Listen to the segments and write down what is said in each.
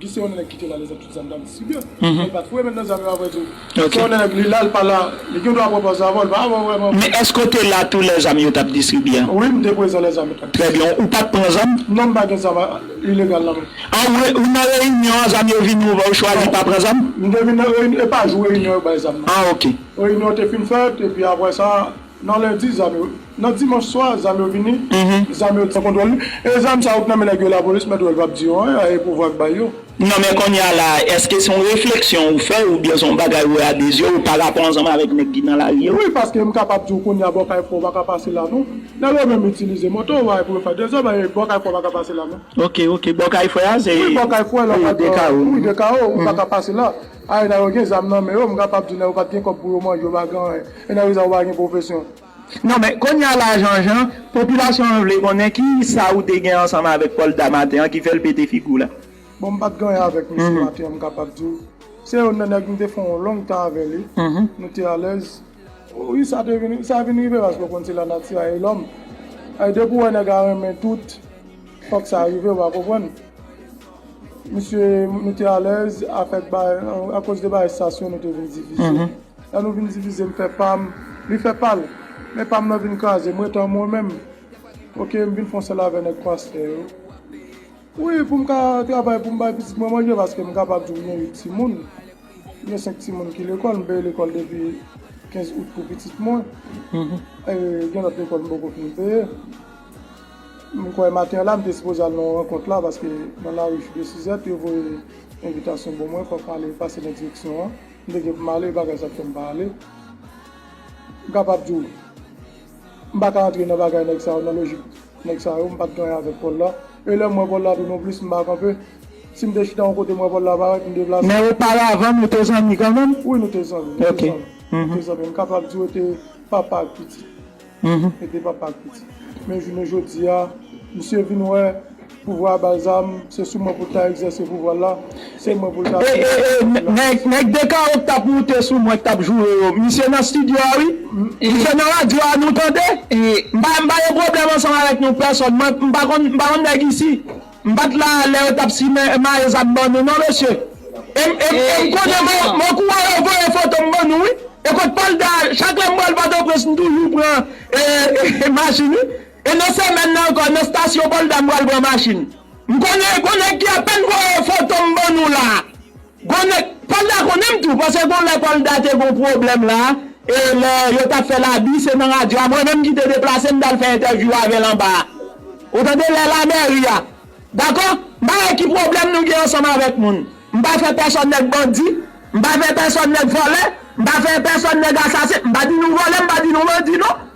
Guy se yon nèg kite la lèzòt tout zam dam si byen men li pa foure men nan zam yo aprè tou se yon nèg li la li pa la li gen dwa pran pòz la avanl pa pran vrèman men èske w te la tou lè zam yo tap distribye an wi m te prezan lè zam yo tap distribye an trè byen ou pat pran zam non m pa gen zam ilegal nan menm an ou ou nan reyinyon an zam yo vini ou ou chwazi pa pran zam m te vin nan reyinyon e pa jou reyinyon yo bay zam nan an ok reyinyon te fin fèt epi aprè sa. Nan lendi zam yo Nan dimanch swa zam yo vini zam yo san kontwòl wi e zam sa yo k nan men nèg yo lapolis mèt wèl pap di yo anyen a e pouvwa k bay yo. Non men konnya la eske son refleksyon ou fè oubyen son bagay ou wè a de zyew pa rapò ansanm avèk nèg ki nan lari yo? Wi paske m kapab diw konnya bò kay fò ou paka pase la non nèg yo menm itilize moto yo bay pou yo fè dezòd e bò kay fò ou paka pase la non. Ok ok bò kay fò a se Wi bò kay fò a la wi de kawo ou paka pase la. A ena yo gen zam nan men yo m kapab di nan yo pat gen kòb pou yo manje yo pa gen anyen ena yo sa yo pa gen pwofesyon. Non men kounya la Jean Jean popilasyon an vle konnen ki sa ou te gen ansanm avèk Polda maten an ki fèl pete figi w la. Bon m pat gen anyen avèk misye maten an m kapab di w se youn nan nèg m te fè yon long tan avè li nou te alèz wi sa te vin sa vin rive paske w konn se lanati a e lòm e depi w wè nèg a renmen tout fòk sa rive w a konprann. Misye nou te alèz avèk bagay akoz de bagay sas yo nou te vin divize lè nou vin divize m fè pam li fè pal men pam nan vin kraze m ret an mwen menm ok m vin fon sèl avè nèg pastè yo wi poum ka travay poum bay pitit mwen manje paske m kapab di ou m gen 8 timoun m gen 5 timoun ki lekòl m peye lekòl depi 15 out pou pitit mwen gen lòt lekòl m poko fin peye. M kwè maten an la m te sipoze al nan yon rankont la paske nan lari Chou de Sizèt yo voye envitasyon bon mwen fò m ale pase nan direksyon an m te gen pou m ale bagay sa k fè m pa ale m kapab di w m pa ka antre nan bagay nèg sa yo nan lojik nèg sa yo m pa t gen anyen avèk Pòl la e lè m wè Pòl la tou non plis m pa kanpe si m te chita yon kote m wè Pòl la parèt m deplase. Men oparavan nou te zanmi kanmenm? Wi nou te zanmi nou te zanmi nou te zanmi m kapab di w te papa ak pitit. e de papa ak pitit. Men jounen jodi a, misye vin wè pouvwa a balzam, se sou mwen pou l ta egzèse pouvwa l la, se mwen pou l ta fini ak peyi a. E nèg Dekaro k t ap moute sou mwen, k t ap joure yo, misye nan stidyo a wi, misye nan radyo a nou tande, m pa gen pwoblèm ansanm avèk nou pèsòn, m pa konn nèg isi. M pat la a lè yo tap simen mayo zam ban nou non mesye e m e m konnen mwen kouran yo voye foto m ban nou wi e kot pal da chak lè m pral pòtoprens m toujou pran e machin wi e nan semèn nan ankò nan stasyon pòlda m pral pran machin m konnen gon nèg ki apèn voye foto m ban nou la. Gon nèg, pwal da konnen m tou paske gon lè kòl da te gon pwoblèm la e lè yo tap fèl abi se nan radyo a mwen menm ki te deplase m tal fè entèvyou avèl anba a ou tande lè la mèri a dakò m pa wè ki pwoblèm nou gen ansanm avèk moun m pa fè pèsòn nèg bandi m pa fè pèsòn nèg vòlè m pa fè pèsòn nèg asasen m pa di nou vòlè m pa di nou bandi non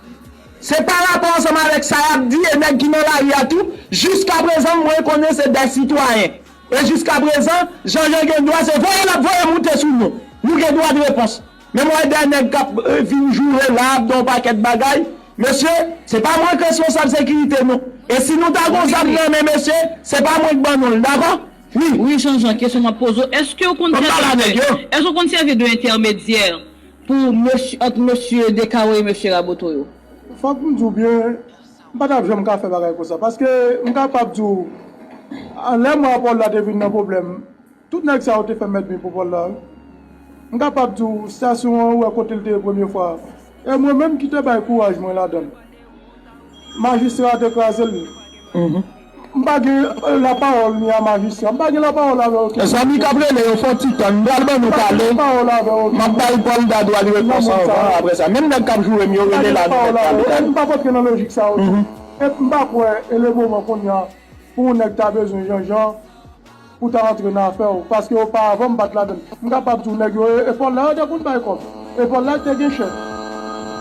se pa rapò ansanm avèk sa yap di e nèg ki nan lari a tou jiskaprezan mwen konnen se dè sitwayen. E jiskaprezan, Janjan gen dwa se voye l ap voye moute sou nou. Nou gen dwa de repons. Men m wè de nèg k ap vin joure la, ap di yon pakèt bagay. Mesye, se pa mwen k responsab sekirite nou. E si nou ta gen yon zam nan men, mesye, se pa mwen k ban nou l. Dakò? Wi. Wi Janjan, kesyon m ap poze w, èske w konn sèvi de, èske w konn sèvi de entèmedyè pou mesye, ant mesye Descarreaux e mesye Raboteau yo? Fòk m di w byen, M pa t ap janm ka fè bagay konsa. Paske m kapab di w, lè mwa Pòl la te vin nan pwoblèm, tout nèg sa yo te fè mèdmi pou Pòl la wi. M kapab di w, stasyon an ou wè kote l te ye premye fwa a, e mwen menm ki te bay kouraj mwen ladan l, majistra a te kraze l. M pa gen la parole ni a magistrat. M pa gen la parole avè w tou. Mezanmi kap rele yo fon ti tann m pral ban nou pale map bay Polda dwa li repons anvan aprè sa menm nèg kap jourem yo rele la nou mèt pale kale. M pap antre nan lojik sa yo tou et m pa kwè e le moman kounya pou yon nèg ta bezwen janjan. Ou ta antre nan afè w paske ou pa avan m pa t la menm. M kapab di w nèg yo e epòl la yo te konn bay kòb. Epòl la te gen chèf.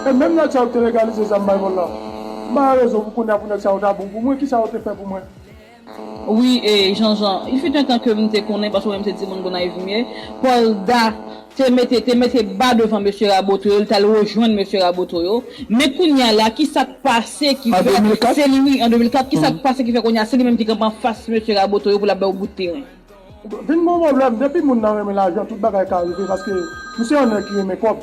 E menm nèg sa yo ki te legalize zam bay vòlò. M pa wè rezon pou kounye a pou nèg sa yo ta bon pou mwen. Kisa yo te fè pou mwen? Wi e Janjan. Il fut un temps ke m te konnen paske mwen menm se timoun Gonayiv m ye. Paul Da te mete te mete ba devan mesye raboto yo li tal rejwenn mesye raboto yo men kounya la kisak pase ki fè se li wi an 2004 kisak pase ki fè kounya se li menm ki kanpe anfas mesye raboto yo pou lap bay yo bout teren. Vin gon problèm depi moun nan renmen lajan tout bagay ka rive paske misye yon nèg ki renmen kòb.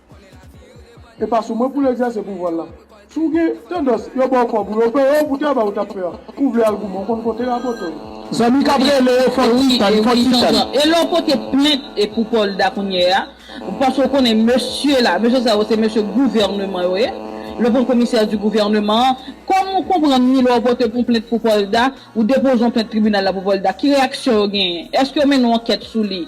E pa sou mwen pou l egzèse pouvwa l la. Si w gen tandans yo ba w kòb ou yo peye w pou travay ou t ap fè a, ou vle al goumen ou konn kote Raboto ye. Zanmi k ap rele yo fò titan, fò titan. E lè w pote plent pou Polda kounye a, paske w konnen mesye la, mesye sa yo se mesye gouvèneman yo ye, le bon commissaire du gouvernement an, kòman w konprann ni lè w pote yon plent pou Polda, ou depoze yon plent tribinal la pou Polda, ki reyaksyon yo genyen? Èske yo mennen yon ankèt sou li?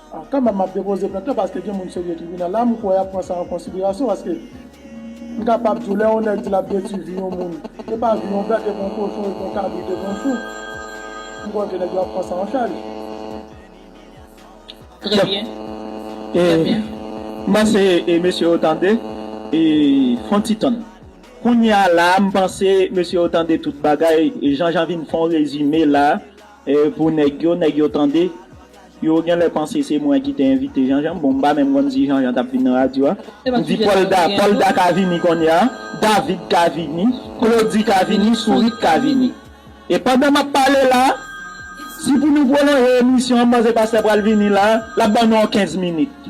Kanmèm map depoze plent lan paske gen moun serye tribinal la, m kwè yap pran sa an konsiderasyon paske m kapab di w lè yon nèg di lap detwi vi yon moun, e pa vi yon bèt, e pa yon kochon, e pa yon kabrit, e pa yon chou, m kwè ke nèg yo ap pran sa an chaj. Trè byen, trè byen. M panse mesye yo tande fon ti tann. Kounya la a m panse mesye yo tande tout bagay, Jean Jean vin fon rezime la. E pou nèg yo, nèg yo tande. Yo genlè panse se mwen ki te envite Janjan. Bon, m pa menm konn si Janjan t ap vin nan radyo a. M di Pòlda, Pòlda ka vini kounye a, David ka vini, Klodi ka vini, Sourit ka vini. E pandan m ap pale la, si pou nou pwolonje emisyon an, m panse pastè pral vini la, l ap ban nou yon kenz minit.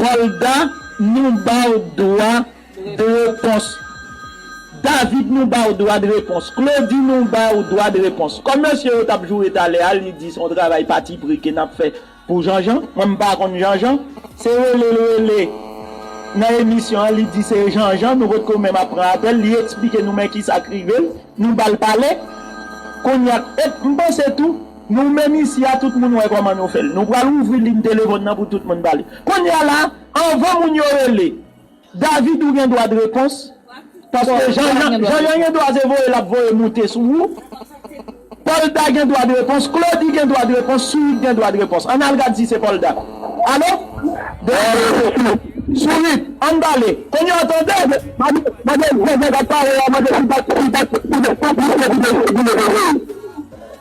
Olga nou baw dwa de repons David nou baw dwa de repons Claudy nou baw dwa de repons Kòm mesye yo tap joure talè a li di son travay patipri ke nap fè pou Janjan mwen mpa konn Janjan se relel rele nan emisyon an li di se Janjan nou potko menm ap pran apèl li eksplike nou men kisak rivel nou bal pale kounya et mpanse tou Nou menm isi a tout moun wè kòman nou fèl nou pral ouvri ligne telefòn nan pou tout moun pale kounya la anvan moun yo rele David ou gen dwa de repons paske jan jan gen dwa se voye lap voye moute sou ou Polda gen dwa de repons Claudy gen dwa de repons Sourit gen dwa de repons ann al gad si se Polda alo Sourit ann pale kounya w tande madanm Joseph ap pale a mande si li pa konplis nan kidnaping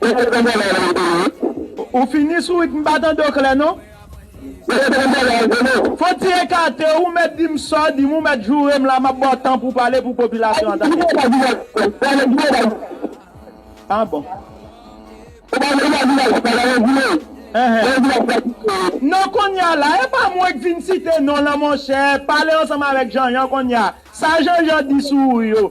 Ou fè bon travay la map tande wi. Ou fini sou it m pa tande w klè non. Mwen fè bon travay la map tande w. Fon ti ekate ou mèt di m sa w di m ou mèt joure m la map ba w tan pou w pale pou popilasyon an tande. Ou pa di nan ti tèt sa nan jwè la. Ah bon. Ou pa di nan ti tèt sa nan jwè la. Nan jwè la sa ki fè. Non konnya la e pa mwen k vin site non lan monchè pale ansanm avèk Janjan konnya sa Janjan di sou ou yo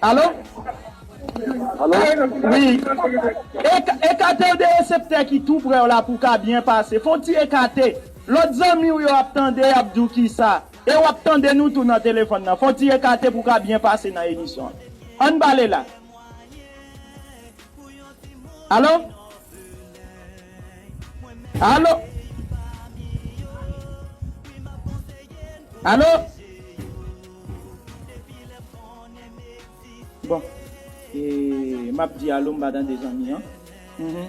Alo? Alo? Wi. Ekate w de reseptè ki tou prè w la pou w ka byen pase. Fè w ti ekate. Lòt zanmi w yo ap tande y ap di w kisa. E w ap tande nou tou nan telefòn nan. Fè w ti ekate pou w ka byen pase nan emisyon an. An n pale la. Alo? Alo? Alo? Bon e map di alo m pa tande zanmi an humm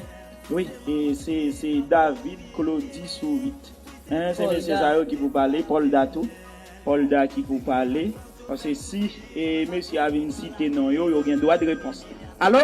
wi e se se David Claudy Sourit hein se mesye sa yo ki pou pale Polda tou Polda ki pou pale paske si e mesye a vin site non yo yo gen dwa de repons alo.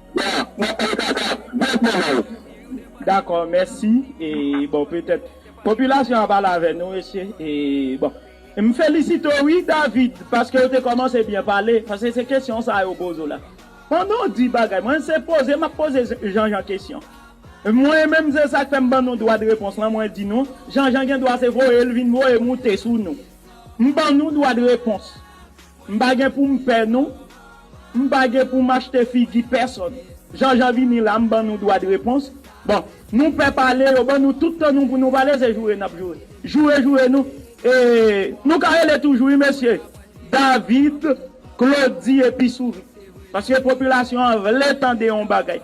Wa map pale kaka Vòt mwen mwen ou. Dakò mèsi e bon petèt popilasyon an ap ale avè nou mesye e bon m felisite w wi David paske w te kòmanse byen pale paske se kesyon sa yo poze w la pandan w di bagay mwen se poze m ap poze Janjan kesyon mwen menm se sa k fè m ban nou dwa de repons lan mwen di nou Janjan gen dwa se voye l vin voye moute sou nou m ban nou dwa de repons. M pa gen pou m pè nou. M pa gen pou m achte figi pèsonn. Jan jan vini la m ban nou dwa de repons. Bon, nou pè pale, yo ban nou tout tan nou pou nou pale, se joure n ap joure. Joure joure nou. E nou ka rele toujou wi mesye. David, Claudy epi Sourit. Paske popilasyon an vle tande yon bagay.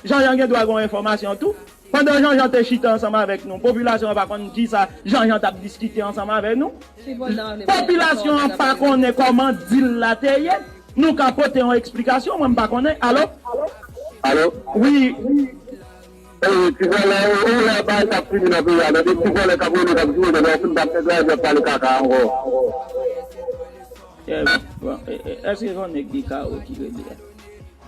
Jan jan gen dwa gen yon enfòmasyon tou. Pandan Janjan te chita ansanm avèk nou, popilasyon an pa konn ki sa Janjan t ap diskite ansanm avè nou. Popilasyon an pa konnen kòman dil la te ye. Nou ka pote yon eksplikasyon, mwen m pa konnen. Alo? Alo? Wi. Ewee, ti vòlè yo. Ou wè bagay sa ap fini nan peyi a nan. De ti vòlè k ap rele, k ap joure. Lè yo fin pa ap fè travay, yo ap pale kaka ankò. Èske se yon nèg Dekawo ki rele a?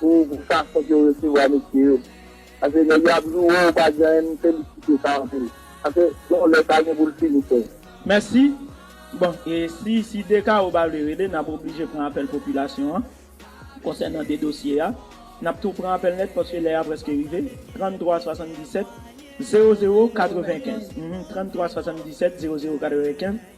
pou fason ke ou resevwa mesye yo. Paske nèg yo ap joure w ou pa di anyen m felisite sa anpil. Paske yon lè sa gen pou l fini sèm. Mèsi. Bon, e si si Dekaro pa vle rele, n ap oblije pran apèl popilasyon an konsènan de dosye a. N ap tou pran apèl nèt paske lè a prèske rive. 33 77 00 95, 33 77 00 95.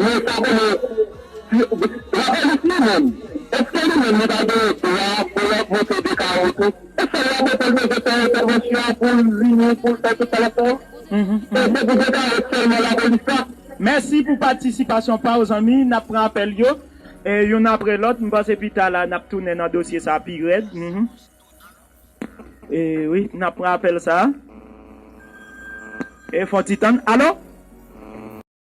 Mwen pa konnen si la polis li menm eske li menm li pa gen dwa pou lap monte de karo tou e sèl la bopèl bezwen fè entèvansyon poul vini poul fè tout sa lap fè a se pou de karo sèlman la polis la. Mèsi pou patisipasyon pa w zanmi. N ap pran apèl yo youn apre lòt. M panse pi ta la n ap tounen nan dosye sa a pi rèd. Wi, n ap pran apèl sa a. Fè yon ti tann. Alo?